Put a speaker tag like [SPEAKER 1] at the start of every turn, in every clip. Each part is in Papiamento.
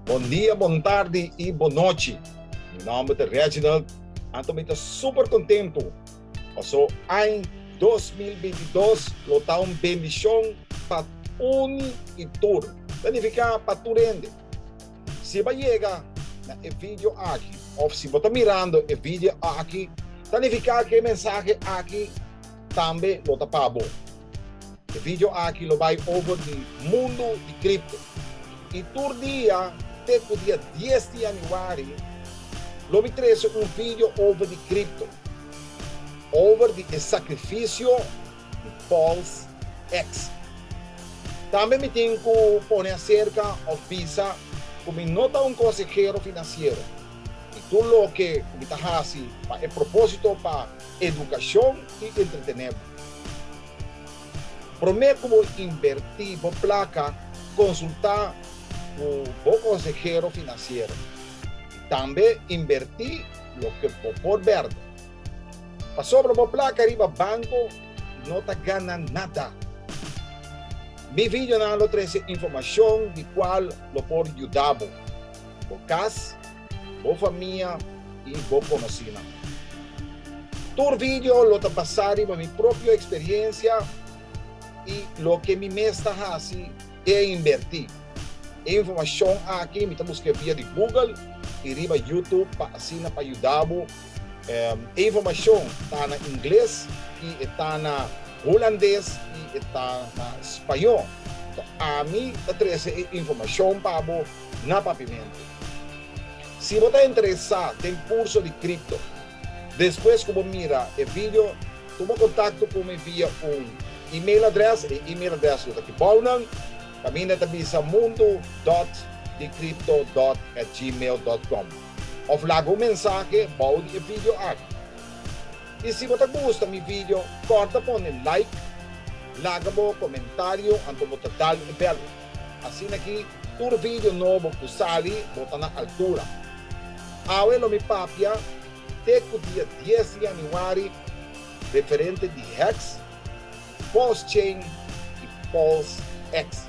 [SPEAKER 1] Bon dia, bon tardi i bon nochi. Mi nòmber ta Reginald, anto mi ta super kontentu paso añ dos mil binti i dos lo ta un bendishon pa uni i tur, ta nifiká pa tur hende. Si bo a yega na e video aki of si bo ta mirando e video aki, ta nifiká ku e mensahe aki tambe lo ta pa bo. E video aki lo bai over di mundu di kripto, i tur dia te ku dia dies di yanüari lo mi trese un video over di kripto, over di e sakrifisio, Paul's Ex. Tambe mi tin ku pone aserka òf bisa ku mi no ta un konsehero finansiero i tur loke ku mi ta hasi pa e propósito pa edukashon i entretené bo. Promé ku bo invertí bo plaka konsultá ku bo konsehero finansiero i tambe invertí loke bo por bèrdi. Pasobra bo plaka riba banco no ta gana nada. Mi videonan lo trece informacion di cual lo por yuda bo, bo cas, bo famia y bo conocinan. Tur video lo ta basa riba mi propio experiencia y loke mi mes ta haci den inverti. E informacion aki mi ta busca via di Google y riba YouTube pa asina pa yuda bo E informashon ta na ingles i e ta na hulandes i e ta na spañó. Tok ami ta trese e informashon pa bo na papimentu. Si bo ta interesá den kurso di kripto, despues ku bo mira e video, tuma kontakto ku mi via un email adrès, e email adrès lo ta aki bounan, kaminda ta bisa mundo dòt dikripto dòt at gmail dòt kòm. Of laga un mensahe bou di e video aki. I si bo ta gusta mi video, kòrta pone like, laga bo komentario anto bo ta dal e bèl. Asina ki tur video nobo ku sali bo ta na altura. Awe lo mi papia te ku dia dies di yanüari referente di hex, pulse chain i pulse hex.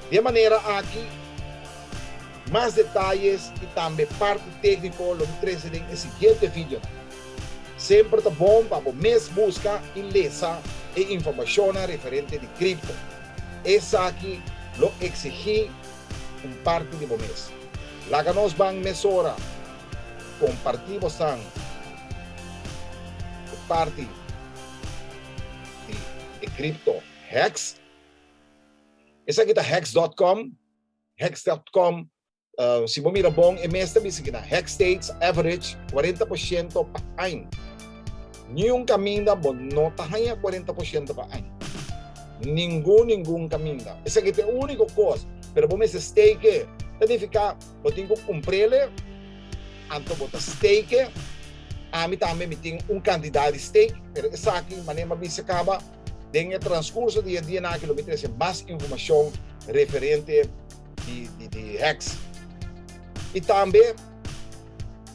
[SPEAKER 1] Di e manera aki. Mas detayes y tambe parti tecnico lo bo trece den e siguiente videonan. Semper ta bon pa bo mes busca y lesa e informacionnan referente di cripto. Esaki lo exigi un parti di bo mes. Laga nos ban mesora comparti bosnan e parti di e cripto hacks. Esaki ta hacks dot com. Hex dot com Si bo mira bon e mes ta bisa ki na Hex States average kuarenta por shento pa año. Niun kaminda bo no ta haña kuarenta por shento pa año. Ningun ningun kaminda. Esaki ta e úniko kos, pero bo mester stake e. Ta nifiká bo tin ku kumpr'e le anto bo ta stake e. Ami tambe mi tin un kantidat di stake, pero esaki, manera mi a bisa kaba, Den e transkurso di e dianan aki lo mi trese mas informashon referente di di di heks. I tambe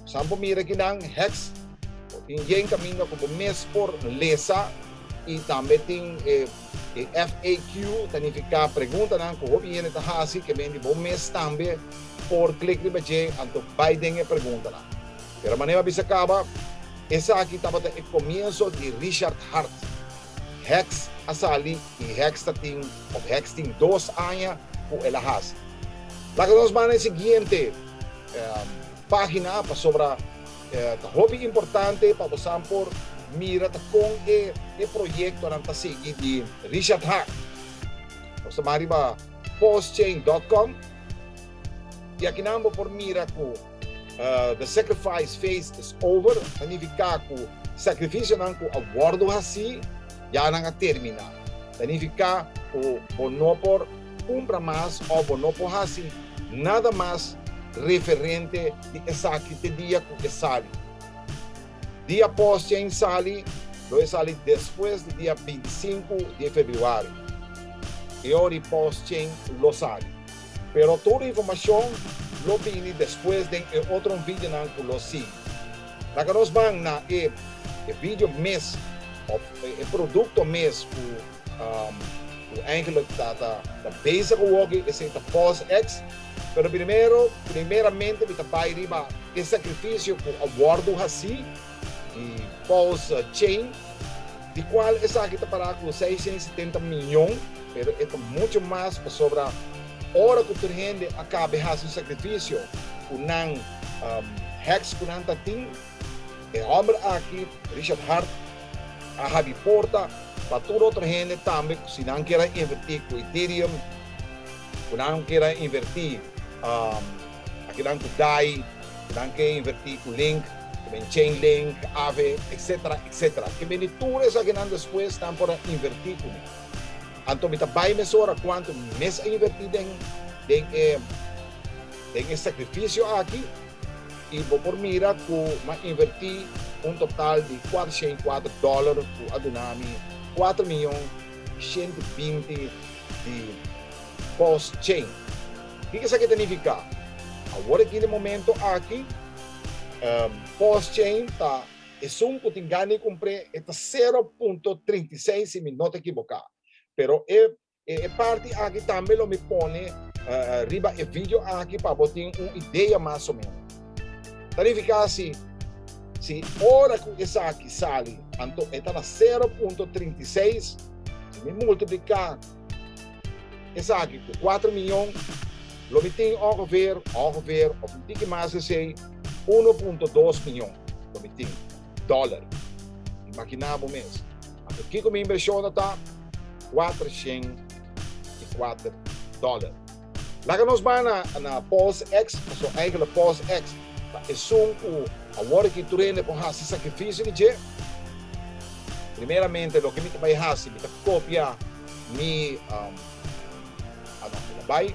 [SPEAKER 1] san bo mira aki nan heks tin yen kaminda ku bo mes por lesa i tambe tin e e FAQ ta nifiká preguntanan ku hopi hende ta hasi ke men di bo mes tambe por klik riba dje anto bai den e preguntanan. Pero manera a bisa caba, esaki tabata e comienzo di Richard Hart. Hex a sali y Hex ta tin, of Hex tin dos aña cu el a haci. Laga nos bana e siguiente pagina pasobra ta hopi importante pa bosan por mira ta con e proyectonan ta sigui di Richard Hart. Nos ta baha riba paulschein dot com y akinan bo por mira cu. The sacrifice phase is over, ta nifiká ku sakrifisionan ku a wòrdu hasí ya nan a terminá. Ta nifiká ku bo no por kumpra mas òf bo no por hasi nada mas referente di esaki te dia ku e sali. Di apos tjin sali, lo e sali despues di dia bintisinku di e februari. E ori pos tjin lo sali. Pero tur informacion lo bini despues den e otro videonan cu lo sigui. Laga nos ban na e e video mes of e producto mes cu cu eigenlijk ta ta ta bezig awoke esey ta Pulse X. Pero primero primeramente mi ta bay riba e sacrificio cu a wordo haci. e pulse chain, di cual esaki ta para cu seishent y setenta miyon, pero e ta mucho mas pasobra ora cu tur hende a cabe haci un sacrificio cu nan heks cu nan ta tin, e homber aki, Richard Hart, a habri porta pa tur otro hende tambe cu si nan kier a inventi cu Ethereum. Cu nan kier a inverti aki nan cu dai, cu nan kier inverti cu link, cu den Chainlink, Aave, etc. Etc. Ki bini di tur esaki nan despues nan por a inverti cu mi. Anto mi ta bay mesora cuanto mi mes a inverti den den e sacrificio aki y bo por mira cu mi a inverti un total di cuatroshei cuatro dollar cu a duna mi cuatro miyon y shenti binti di Pulse Chain. Kiko esaki ta nifiká? Awor aki den momento aki, Pulse Chain ta esun ku tin gana di kumpr'é, e ta sero punto trinta i seis si mi no ta ekiboká. Pero e e parti aki tambe lo mi pone riba e video aki pa bo tin un idea mas o menos. Planifiká si si ora ku esaki sali anto e ta na sero punto trinta i seis, si mi multipliká esaki ku kuater miyon, lo mi tin ongeveer, ongeveer òf un tiki mas di esei, uno punto dos miyon lo mi tin, dòler. Imaginá bo mes, anto kiko mi invershonnan ta? Kuatershen i kuater dòler. Laga nos bay na na Paul's ex, pasobra eigenlijk Paul's ex ta esun cu awor aki tur hende por haci sacrificio di dje. Primeramente loke mi ta bay haci mi ta copia mi um, a no, mi ta bay,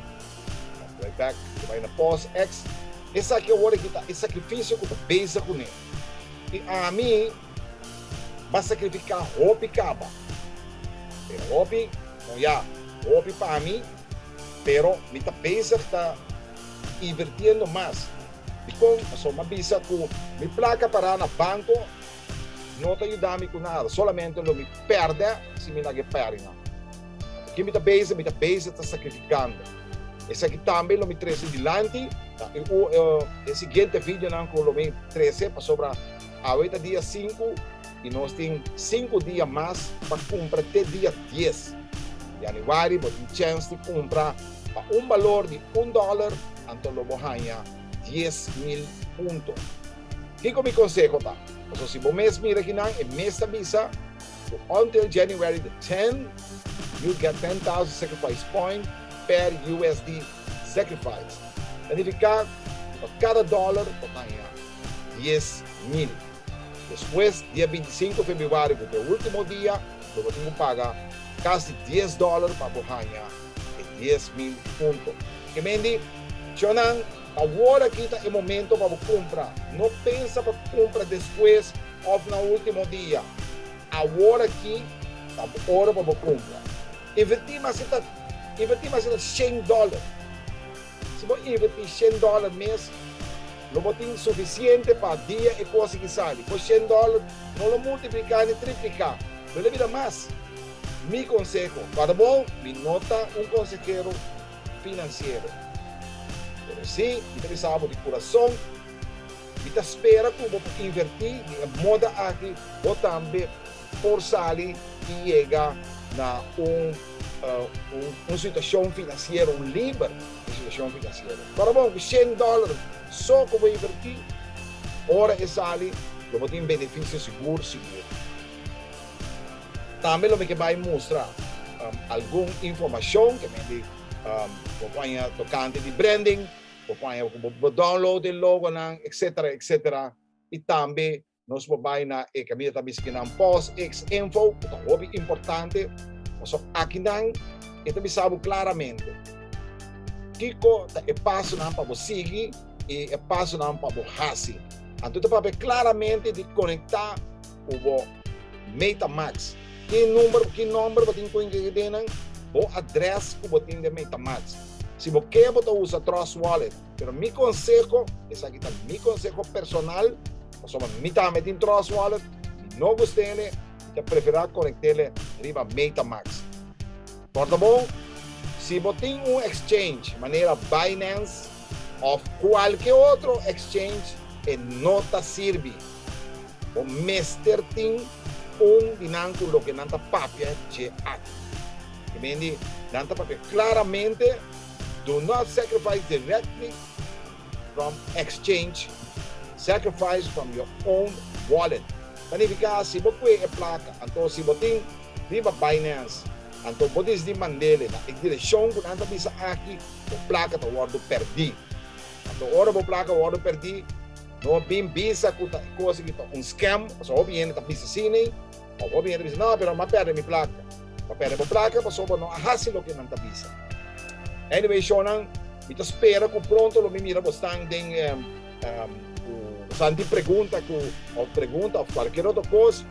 [SPEAKER 1] no, mi ta bay back, mi ta bay na Paul's ex. Esaki awor aki ta e sacrificio cu ta beza cu ne. Y ami ba sacrifica hopi caba, pero hopi, con ya, hopi pa mi. Pero mi ta bezig ta invirtiendo mas. Dikon? Pasobra mi a bisa ku mi plaka pará na banko no ta yuda mi ku nada, solamente lo mi pèrdè si mi no a ke pèri nan. Ku ki mi ta bezig? Mi ta bezig ta sakrifikando. Esaki tambe lo mi trese dilanti ta e e siguiente videonan ku lo mi trese, pasobra awe ta dia sinku. I nos tin sinku dia mas pa kumpra te dia dies yanüari. Bo tin chèns di kumpra pa un balor di un dòler anto lo bo haña dies mil punto. Kiko mi konseho ta? Pasobra si bo mes mira kinan e mes ta bisa ku until January the ten you get ten thousand sacrifice point per USD sacrifice ta nifiká ku pa kada dòler bo ta haña dies mil. Despues, dia bintisinko febrüari ku ta e último dia, lo bo tin ku paga kasi dies dòler pa bo haña e dies mil punto. Ke men di? Chonan, Awor aki ta e momento pa bo kumpra. No pensa pa kumpra despues òf na último dia. Awor aki ta bo ora pa bo kumpra. Invertí mas e ta invertí mas e ta shen dòler. Si bo invertí shen dòler mes, lo bo tin sufisiente pa dia e kos aki sali. Bo shen dòler no lo multipliká ni tripliká, lo lo bira mas. Mi konseho para bo, mi no ta un konsehero finansiero, pero sí mi ta bisa bo di kurason, mi ta spera ku bo por invertí den e moda aki bo tambe. por sali y yega na un situacion financiero, un liber situacion financiero. Ora bo cu cien dollar so cu bo inverti, ora e sali lo bo tin beneficio sigur sigur. Tambe lo mi ke bay mustra algun informacion ke mende bo paña tocante di branding, bo paña cu bo download e logonan, etcetera, etcetera, y tambe Nos por bai na e caminda ta bisti nan pos ex info cu ta hopi importante paso akinan e ta bisa bo claramente kico ta e pasonan pa bo sigui y e pasonan pa bo haci. Anto ta papia claramente di conecta cu bo MetaMax. Ki number, ki nomber bo tin cu ingredienan? Bo address cu bo tin den MetaMax. Si bo ke bo ta usa Trust Wallet. Pero mi conseho, esaki ta mi conseho personal, pasobra mi tambe tin Trust Wallet, mi no gustele, mi ta prefera conectele riba MetaMask. Por ta bon, si bo tin un exchange manera Binance of cualke otro exchange e no ta sirbi. Bo mester tin un di nan cu loke nan ta papia dje aki. Ebendi, nan ta papia claramente. Do not sacrifice directly from exchange, sacrifice from your own wallet. Ta nifiká si bo kue e plaka, anto si bo tin riba Binance, anto bo disdi mand'ele na e direkshon ku nan ta bisa aki, bo plaka ta wòrdu pèrdí. Anto ora bo plaka wòrdu pèrdí, no bin bisa ku ta e kos aki ta un scam, pasobra hopi hende ta bisa asina ei. Of bo bier i bisa, No, pero m'a pèrdè mi plaka. Bo a pèrdè bo plaka pasobra bo no a hasi loke nan ta bisa. Anyway, shònan, mi ta spera ku pronto lo mi mira bo stan den ku bo stan tin pregunta ku, òf pregunta òf kualkier otro kos,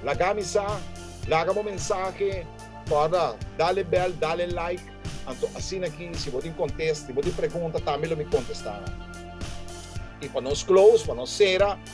[SPEAKER 1] laga mi sa, laga bo mensahe, kòrda, dale bèl, dale like, anto asina aki si bo tin kontes, si bo tin pregunta tambe lo mi kontestá nan. I pa nos close, pa nos sera.